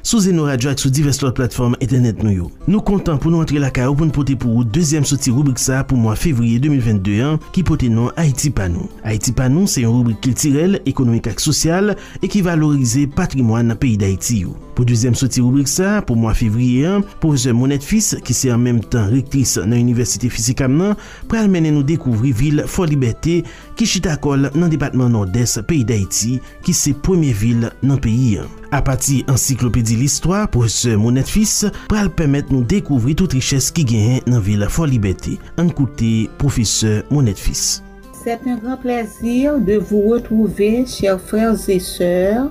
Sou Zeno Radio ak sou divès lòt platfòm entènèt nou yo. Nou kontan pou nou antre lakay ou pou n pote pou ou dezyèm soti ribrik sa pou mwa fevriye 2022 an ki pote non Ayiti pa nou. Ayiti pa nou se yon ribrik kiltirèl, ekonomik ak sosyal e ki valorize patrimwàn peyi Dayiti yo. Pou dezyèm soti ribrik sa pou mwa fevriye an, pwofesè Monette Fils ki se an menm tan rektris nan Inivèsite Fisikam nan pral mennen nou dekouvri vil Fòlibète, ki chita kò l nan depatman Nòdès peyi Dayiti, ki se premye vil nan peyi an. Apati ansiklopedi listwa pwofesè Monette Fils pral pèmèt nou dekouvri tout richès ki genyen nan vil Fò Libète. Ann koute pwofesè Monette Fils. C'est un grand plaisir de vous retrouver chers frères et sœurs.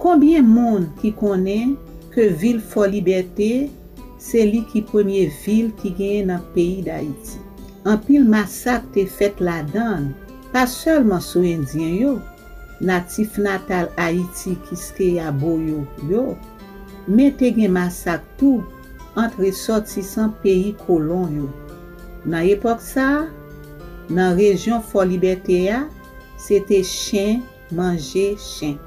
Konbyen moun ki konnen ke vil Fòlibète se li ki premye vil ki genyen nan peyi Dayiti. Anpil masak te fèt ladann, pa sèlman sou endyen yo, natif natal Ayiti Kiskeya Boyo yo, men te gen masak tou ant resòtisan peyi kolon yo. Nan epòk sa a, nan rejyon Fòlibète a, se te chen, Manje chen.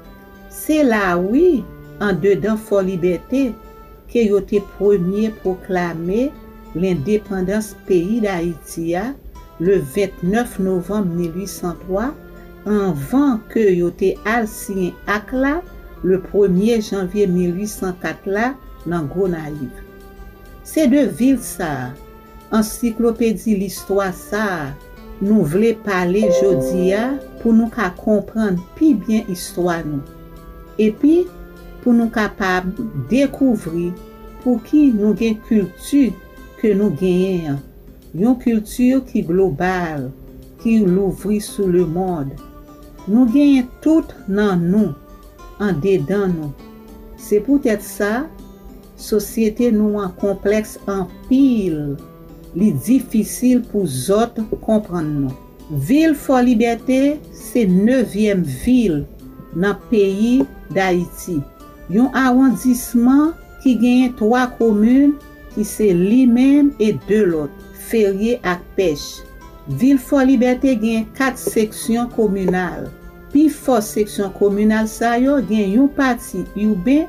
Se la a wi, andedan Fòlibète, ke yo te premye pwoklame lendepandans peyi Dayiti a, le 29 novanm 1803, anvan ke yo te al siyen Ak la, le premye janvye 1804 la, nan Gonayiv. Se de vil sa a, Ansiklopedi listwa sa a nou vle pale jodi a pou nou ka konprann pi byen istwa nou, epi pou nou kapab dekouvri pouki nou gen kilti ke nou genyen an, yon kilti ki global, ki louvri sou lemond. Nou genyen tout nan nou, andedan nou. Se poutèt sa. Sosyete nou an konplèks anpil, li difisil pou zòt konprann nou. Vil Fòlibète se nevyèm vil nan peyi Dayiti, yon awondisman ki genyen twa komin ki se li menm e de lòt, Ferye ak Pèch. Vil Fòlibète genyen kat seksyon kominal. Pi fò seksyon kominal sa yo gen yon pati iben,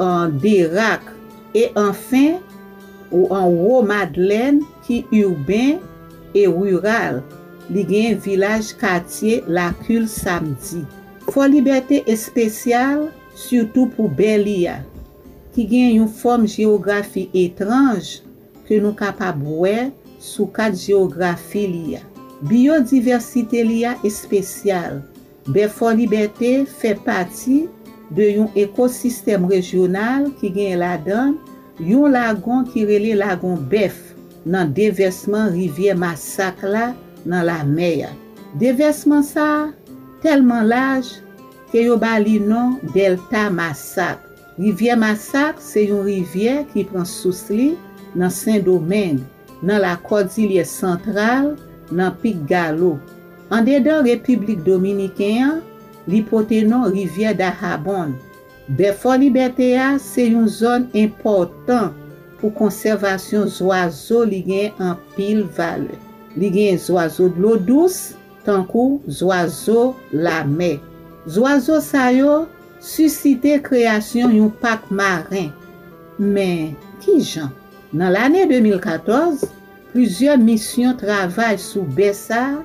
an Derak, e anfen, ou an wo Madlèn ki urbain e rural, li genyen vilaj katye Lacul Samedi. Fò Libète espesyal sitou pou Bèli a, ki genyen yon fòm jewografi etranj ke nou kapab wè sou kat jewografi li a. Biyodivèsite li a espesyal, Bèfò Libète fè pati de yon ekosistèm rejyonal ki genyen ladan yon lagon ki rele Lagon Bèf nan devèsman rivyè Masak la nan lamè a. Devèsman sa a tèlman laj ke yo ba li non Dèlta Masak. Rivyè Masak se yon rivyè ki pran sous li nan Sendomeng. nan Lakòdilye Santral, nan Pik Galo. Andedan Repiblik Dominiken an, li pote non Rivyè Dahabon. Bèfò Libète a se yon zòn enpòtan pou konsèvasyon zwazo li gen anpil valè. Li gen zwazo dlo dous tankou zwazo lamè. Zwazo sa yo sisite kreyasyon yon pak maren. Men, kijan? Nan lane 2014, plizyè misyon travay sou bè sa a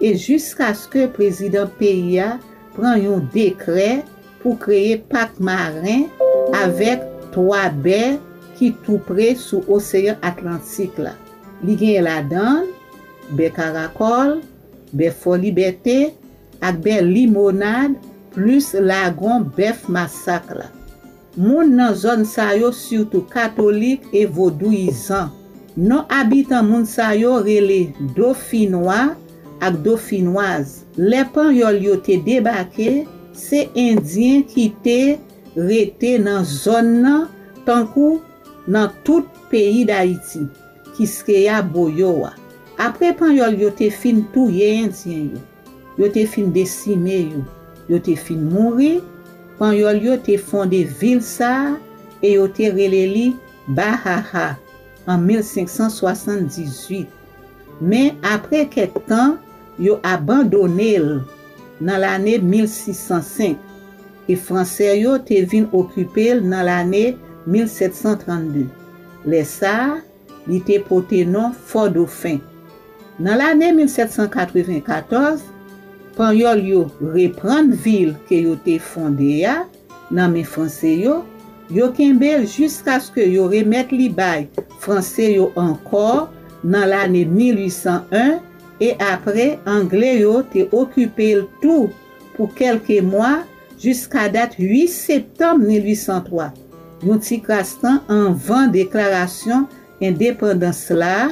e jiskaske prezidan peyi a pran yon dekrè pou kreye pak maren avèk 3 bè ki tou pre sou Oseyan Atlantik la. Li genyen ladan l, bè Karakòl, bè Fò Libète ak bè Limonad plis lagon Bèf Masak la. Moun nan zòn sa yo sitou katolik e vodouyizan. Non abitan moun sa yo rele Dofinwa ak Dofinwaz. Lè Panyòl yo te debake, se Endyen ki te rete nan zòn nan tankou nan tout peyi Dayiti, Kiskeya, Boyo a. Apre Panyòl yo te fin touye Endyen yo. Yo te fin desime yo. Yo te fin mouri. Panyòl yo te fonde vil sa a e yo te rele li Bahaha an 1578. Men, apre kèk tan, yo abandone l nan lane 1605, e Fransè yo te vin okipe l nan lane 1732. Lè sa a, Li te pote non Fò Dofen. Nan lane 1794, Panyòl yo reprann vil ke yo te fonde a nan men Franse yo, yo kenbe l jiskaske yo remèt li bay Franse yo ankò nan lane 1801, e apre Angle yo te okipe l tou pou kèlke mwa, Jiskadat 8 septanm 1803, yon ti kras tan anvan deklarasyon endepandans la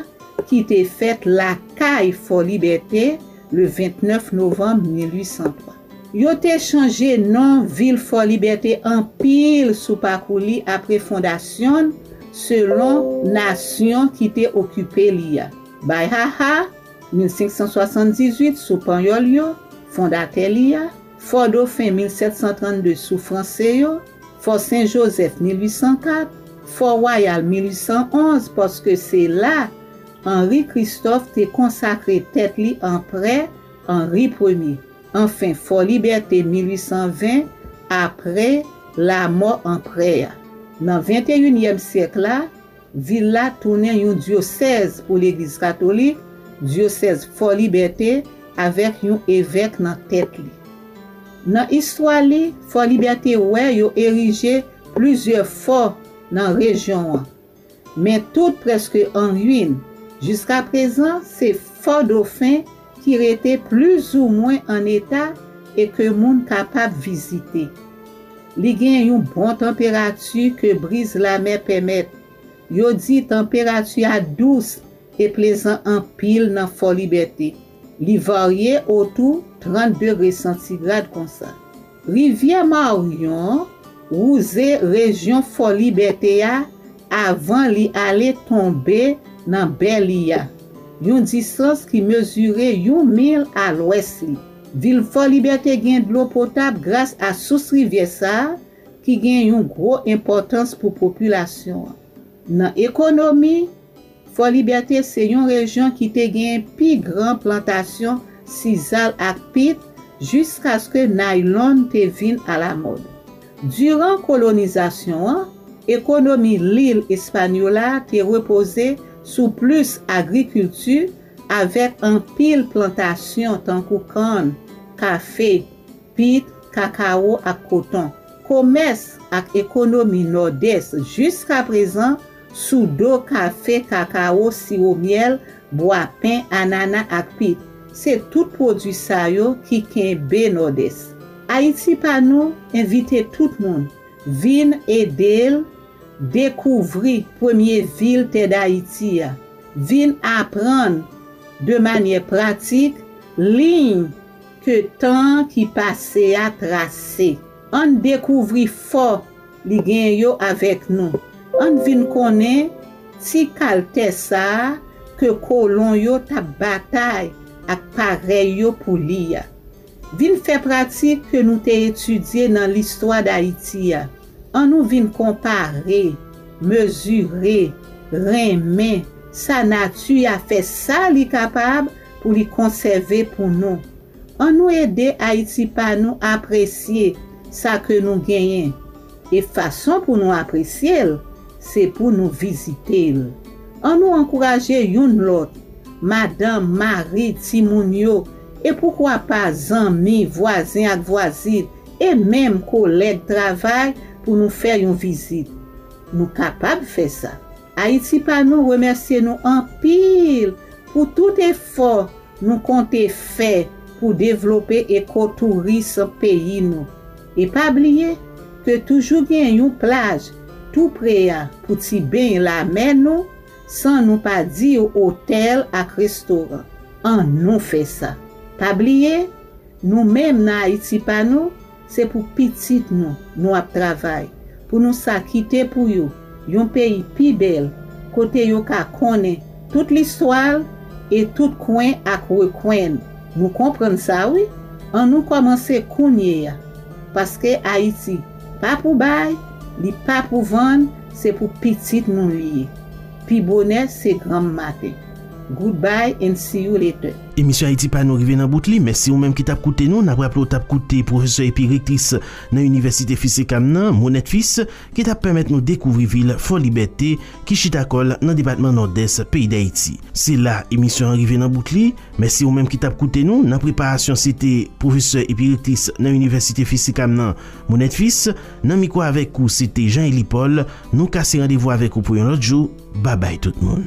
ki te fèt lakay Fòlibète le 29 novanm 1803. Yo te chanje non vil Fòlibète anpil sou pakou li apre fondasyon l selon nasyon ki te okipe li a, Bayaha, 1578, sou Panyòl yo, fondatè li a, Fò Dofen 1732 sou Franse yo, Fò Sen Jozèf 1804, Fò Wayal 1811 paske se la Anri Kristòf te konsakre tèt li Anprè Anri Premye, anfen Fò Libète 1820 apre lamò Anprè a. Nan venteyinyèm syèk la, Vil la tounen yon dyosèz pou Legliz Katolik, Dyosèz Fò Libète, avèk yon evèk nan tèt li. Nan istwa li, Fò Libète wè yo erije plizyè fò nan rejyon an, men tout prèske an ruin. Jiskaprezan, se Fò Dofen ki rete plizoumwen an eta e ke moun kapab vizite. Li gen yon bon tanperati ke briz lamè pèmèt. Yo di tanperati a dous e plezan anpil nan Fò Libète. Li varye otou 30 degre santigrad konsa. Rivyè Maryon wouze rejyon Fò Libète a Avan li ale tonbe nan bè li a, yon distans ki mezire yon mil a lwès li. Vil Fò Libète gen dlo potab gras a sous rivyè sa a ki gen yon gwo enpòtans pou popilasyon an, nan ekonomi, Fò Libète se yon rejyon ki te genyen pi gran plantasyon sizal ak pit jiskaske naylon te vin alamòd. Diran kolonizasyon an, ekonomi lil Espànyola te repoze sou plis agrikilti avèk anpil plantasyon tankou kann, kafe, pit, kakawo ak koton. Komès ak ekonomi Nòdès jiskaprezan Soudo, kafe, kakawo, siwo myèl, bwa pen, anana ak pit, se tout pwodui sa yo ki kenbe Nòdès. Ayiti pa nou envite tout moun vin ede l dekouvri premye vil tè Dayiti a, vin aprann de manyè pratik liy ke tan ki pase a trase. Ann dekouvri fò Li gen yo avèk nou. Ann vin konnen ti kal tè sa a ke kolon yo t ap batay ak parèy yo pou li a. Vin fè pratik ke nou te etidye nan listwa Dayiti a. An nou vin konpare, mezire, renmen sa nati a fè sa li kapab pou li konsève pou nou. An nou ede Ayiti pa nou apresye sa ke nou genyen, e fason pou nou apresye l, se pou nou vizite l. An nou ankouraje youn lòt, madanm, mari, timoun yo, e poukwa pa zanmi, vwazen ak vwazin, e menm kolèg travay pou nou fè yon vizit. Nou kapab fè sa. Ayiti pa nou remèsye nou anpil pou tout efò nou konte fè pou devlope eko touris peyi nou. E pa bliye ke toujou gen yon plaj tou pre a pou ti beny lamè nou san nou pa diw otèl ak restoran. An nou fè sa. Pa bliye, nou menm nan Ayiti pa nou, Se pou pitit nou, nou ap travay, pou nou sa kite pou yo, yon peyi pi bèl, kote yo ka konnen tout listwa l e tout kwen ak rekwen l. Nou konprann sa wi, an nou kòmanse kounye a. Paske Ayiti pa pou bay, li pa pou vann, se pou pitit nou li ye. Pi bonè se granm maten. Good bye and see you later. Emisyon Ayiti pa nou rive nan bout li. Mèsi ou menm ki t ap koute nou. N ap raple w t ap koute pwofesè epi rektris nan Inivèsite Fils et Cam nan, Monette Fils, ki t ap pèmèt nou dekouvri vil Fòlibète ki chita kò l nan depatman Nòdès peyi Dayiti. Se la emisyon an rive nan bout li. Mèsi ou menm ki t ap koute nou. Nan preparasyon se te pwofesè epi rektris nan Inivèsite Fils et Cam nan, Monette Fils. Nan mikwo avèk ou se te Jean Élie Paul. Nou kase randevou avèk ou pou yon lòt jou. Babay tout moun.